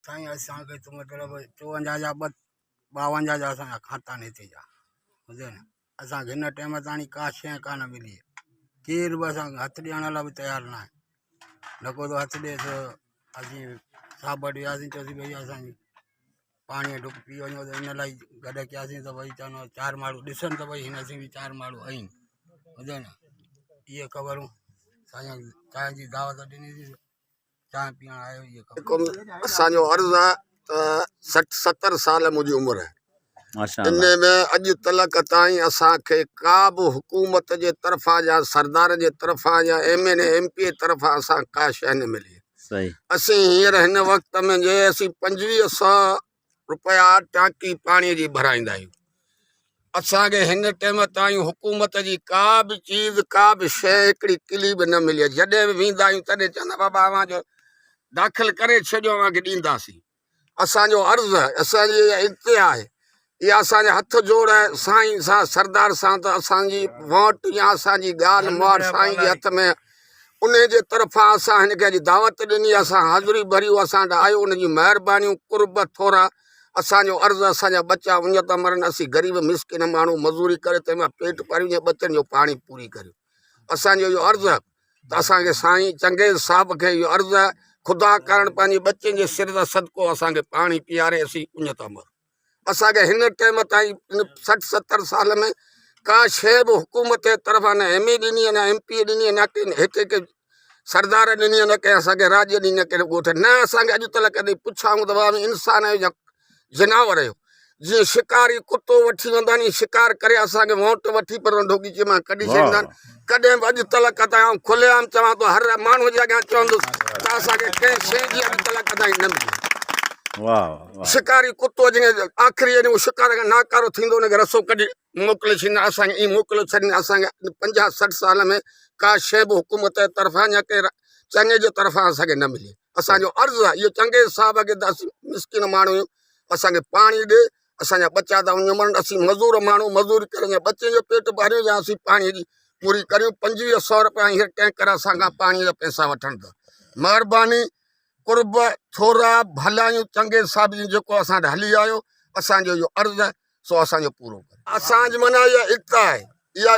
سائين اسان کي تو مطلب چوونجاھ جا ٻه ٻاونجاھ جا اسانجا کاتا آھن ھتي جا سمجھيو ني اسانکي ھن ٽيم تائين ڪا شي ڪانه ملي آھي ڪير به اسانکي ھٿ ڏيڻ لاء به تيار ناھي نڪو تو ھٿ ڏي تو اسين سابت وياسين چوسين بھيا اسانجي پاڻي جو ڍڪ پي وڃو ته ھن لاء گڏ ڪياسين ته ڀئي چئنو چار ماڻھو ڏسن ته ڀئي ھن اسين به چار ماڻھو آھيون ٻڌو ني اھي خبرون سائين جي دعوت ڏنيسين چانهه پيئڻ آيو هجي خبر جيڪو اسان جو عرض آ ته سٺ ستر سال منهنجي عمر آهي ماشاء ان الله ۾ اڄ تلڪ تائين اسان کي ڪا به حڪومت جي طرفان يا سردار جي طرفان يا M N A M P A طرفان اسان کي ڪا شيء نه ملي صحيح اسين هينئر هن وقت ۾ جي اسين پنجويهه سو رپيا ٽانڪي پاڻي جي ڀرائيندا آهيون اسان کي هن ٽيم تائين حڪومت جي ڪا به چيز ڪا به شيء هڪڙي ڪلي به نه ملي آهي جڏهن به ويندا آهيون تڏهن چوندا بابا اوهان جو داخل ڪري ڇڏيو اوهان کي ڏينداسين اسان جو عرض آهي اسان جي اها انتها آهي اها اسان جا هٿ جوڙ آهي سائين سان سردار سان ته اسان جي ووٽ يا اسان جي ڳالهه مهاڙ سائين جي هٿ ۾ انهي جي طرفان اسان هن کي اڄ دعوت ڏني اسان حاضري ڀريو اسان ڏانهن آيو ان جي مهربانيون قرب ٿورا اسان جو عرض اسان جا ٻچا اڃ ته مرن اسين غريب مسڪين ماڻهو مزوري ڪري تنهن مان پيٽ پريون جي ٻچن جو پاڻي پوري ڪريون اسان جو اهو عرض ته اسان کي سائين چنگيز صاحب کي اهو عرض خدا ڪرڻ پنهنجي ٻچن جي سر ته صدقو اسان کي پاڻي پياري اسين اڃ ته مرون اسان کي هن ٽيم تائين ان سٺ ستر سال ۾ ڪا شي به حڪومت جي طرفان نه ايم اي ڏني نه ايم پي ڏني نه ڪنهن هڪ هڪ سردار ڏني نه ڪنهن اسان کي راڄ ڏني نه ڪنهن ڳوٺ نه اسان کي اڄ تل ڪڏهن پڇايون ته واهه انسان آهيو يا جناور آهيو جيئن شڪاري ڪتو وٺي ويندا آهن ائين شڪار ڪري اسان کي وونٽ وٺي پر ڍوڪي چي مان ڪڍي ڇڏيندا آهن ڪڏهن به اڄ تلڪ تائين آئون کلي عام چوان ٿو هر ماڻهو جي اڳيان چوندس ته اسان کي ڪنهن شيء جي اڄ تلڪ تائين نه ملي شڪاري ڪتو جنهن کي آخري جڏهن هو شڪار کان ناڪارو ٿيندو ان کي رسو ڪڍي موڪلي ڇڏيندا اسان کي ائين موڪليو ڇڏين اسان کي پنجاهه سٺ سال ۾ ڪا شيء به حڪومت جي طرفان يا ڪنهن چڱي جي طرفان اسان کي نه ملي اسان جو عرض آهي اهو چنگيز صاحب کي ته اسين مسڪين ماڻهو آهيون اسان کي پاڻي ڏي اسان جا ٻچا ٿا وڃي مرن اسين مزور ماڻهو مزوري ڪري اسين ٻچن جو پيٽ پاليون يا اسين پاڻي جي پوري ڪريون پنجويهه سؤ روپيا هينئر ٽينڪر اسان کان پاڻي جا پئسا وٺن ٿا مهرباني قرب ٿورا ڀلايون چنگي صاحب جي جيڪو اسان وٽ هلي آيو اسان جو اهو عرض آهي سو اسان جو پورو ڪريو اسان جي معنيٰ اها ايڪتا آهي اها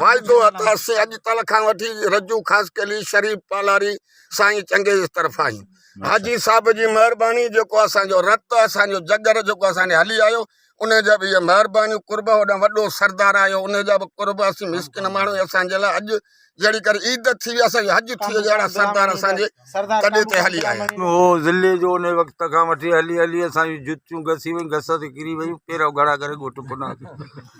واعدو عطا سي اڄ تل کان وٺي رجو خاصخيلي شريف پالاري سائين چنگيز طرفان آهيون حاجي صاحب جي مهرباني جيڪو اسان جو رت اسان جو جگر جيڪو اسان ڏي هلي آيو ان جا به اهي مهربانيون قرب هوڏانهن وڏو سردار آيو ان جا به قرب اسين مسڪين ماڻهو اسان جي لاء اڄ جهڙي ڪري عيد ٿي ويا اسان جي حج ٿي ويو جهڙا سردار اسان جي تڏي تي هلي آيا. هو ضلعي جو انهي وقت کان وٺي هلي هلي اسان جون جتيون گسي ويون گس تي ڪري ويون پيرا ڳاڙها ڪري ڳوٺ پنا ٿي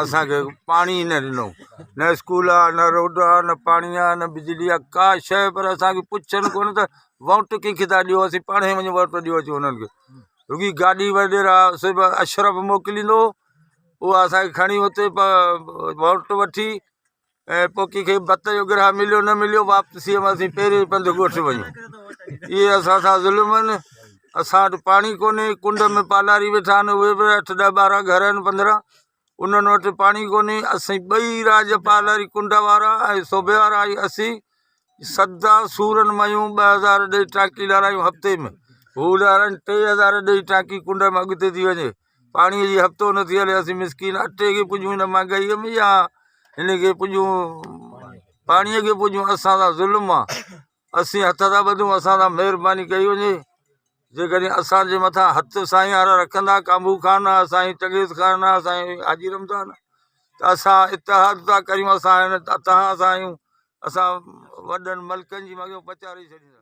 اسان کي پاڻي ئي نه ڏنو نه اسڪول آ نه روڊ آ نه پاڻي آ نه بجلي آ ڪا شيء پر اسان کي پڇن ڪونه ته ووٽ ڪنهن کي ٿا ڏيو اسين پاڻهي وڃي ووٽ ڏيو اچو انهن کي رڳي گاڏي وغيره سي به اشرف موڪليندو هو اها اسان کي کڻي اتي ووٽ وٺي ۽ پوکي کي بت جو گرهه مليو نه مليو واپسيء ۾ اسين پهرين ئي پنڌ ڳوٺ وڃون. اهي اسان سان ظلم آهن. اسان وٽ پاڻي ڪونهي. ڪنڊ ۾ پالاري ويٺا آهن. اهي به اٺ ڏهه ٻارهن گهر آهن پنڌرا. انهن وٽ پاڻي ڪونهي. اسين ٻئي راڄ پالاري ڪنڊ وارا ۽ سوڀي وارا ۽ اسين سدا سورن ميون ٻه هزار ڏئي ٽانڪي لارايون هفتي ۾. هو لارائين ٽي هزار ڏئي ٽانڪي ڪنڊ ۾ اڳتي ٿي وڃي. پاڻي جي هفتو نه ٿي هلي اسين مسڪين اٽي کي پڄون هن مهانگائيء ۾ يا هن کي پڄون پاڻيء کي پڄون اسان سان ظلم آ اسين هٿ ٿا ٻڌون اسان سان مهرباني ڪئي وڃي جيڪڏهن اسانجي مٿان هٿ سائين وارا رکندا ڪامبو خان آ سائين چنگيز خان آ سائين حاجي رمضان آ ته اسان اتحاد ٿا ڪريون اسان هن تان سان آهيون اسان وڏن ملڪن جي مڳيون پچاري ڇڏيندا